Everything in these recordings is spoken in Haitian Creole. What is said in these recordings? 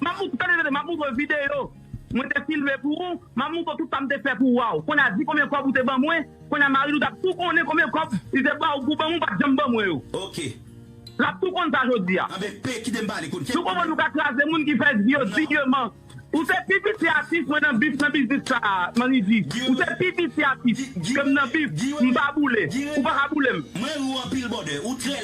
Mamouco tande tande mamouco video mwen te filme pou ou mamouco tout sa m te fè pou waw konnya di konbyen kòb ou te ban mwen konnya mari nou tap tou konnen konbyen kòb li te baw pou banm ou pat janm ban mwen yo ok lap tou konn sa jodia anben p kite m pale konn kèk bagay nou ka kraze moun ki fè di yo dignement ou se pi piti atis mwen nan bif nan biznis sa manrivi ou se pi piti atis kem nan bif m pa boule ou paka boulem. Mwen ri w anpil bòdè ou trè.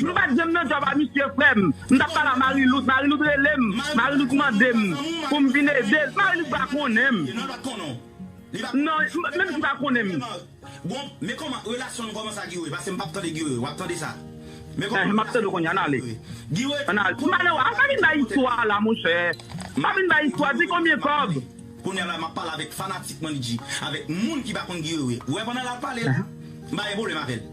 Nou pat janm nan job a misye frem m tap pale a mariloute mariloute relem mariloute mandem poum vin edel mariloute pa konnenm nan menm si pa konnenm enh map tandew kounya nan ale an ale m pa nan waf pa vin bay istwa la monchè pa vin bay istwa di konbyen kob enh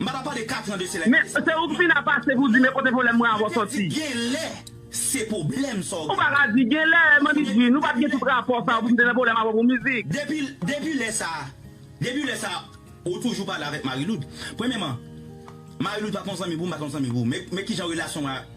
M pa ta pale katran de selèk Men, se ou k fin ap pase pou di men kote pwoblèm mwen avè w sòti. Genlè se pwoblèm sa w Ou pa ka di genlè, Manmi G, nou pa t gen tout rapò sa yo pou m te nan pwoblèm avè w pou mizik. Depi, depi lè sa a, depi lè sa a ou toujou pale avèk Mariloud. Premyèman, Mariloud pa t yon zanmi pou m, m pa t yon zanmi pou ou. Men, men kijan relasyon mwen ak.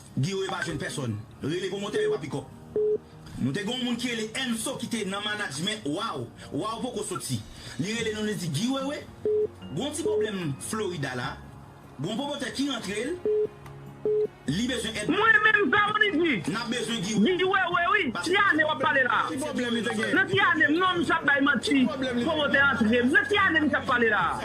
Guy yo yo pa jwenn pèsòn. Rele pou motè yo pa pikòp. Nou te gen yon moun ki rele Enso ki te nan manadjmen waw, waw poko soti. Li rele nou li di Guy Wewe gen yon ti pwoblèm Florida la, gen yon pwomotè ki rantre l, li bezwen èd. Mwen menm sa yo li di. Nap bezwen Guy Wewe. Guy Wewe wi, ki ane wap pale la? Ki pwoblèm li te gen? Nan ki ane m non misye ap bay manti pwomotè antre m. Nan ki ane misye ap pale la?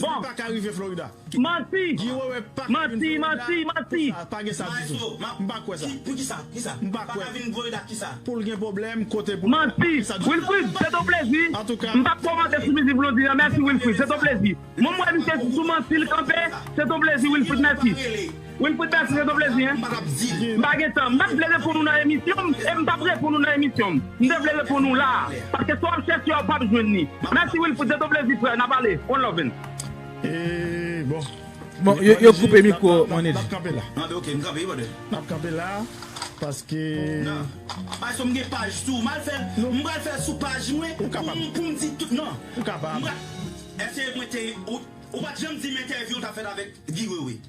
Bon. Manti. Manti, manti, manti. Manti. Wilfrid, se ton plezi. M pap komante sou mizik Blondine an, mèsi Wilfrid, se ton plezi. Mwen m wè misye se sou manti l kanpe, se ton plezi Wilfrid, mèsi. Wilfrid Bercy se do plezi hein. M pa gen tan. M pat vle reponn ou nan emisyon m e m pap reponn ou nan emisyon m. M te vle reponn ou la a. Paske sa w ap chèche a w pap jwenn li. Mèsi Wilfrid, se do plezi frè, n ap ale. One love and. Bon yo koupe mikwo Mannie G.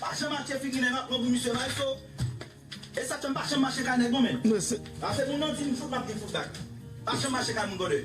Pa janm achte figi nèg ank non pou misye bay so e sak fèm pa janm mache kay nèg non men ase moun nan dim fout map gen fout bak pa janm mache kay moun brother.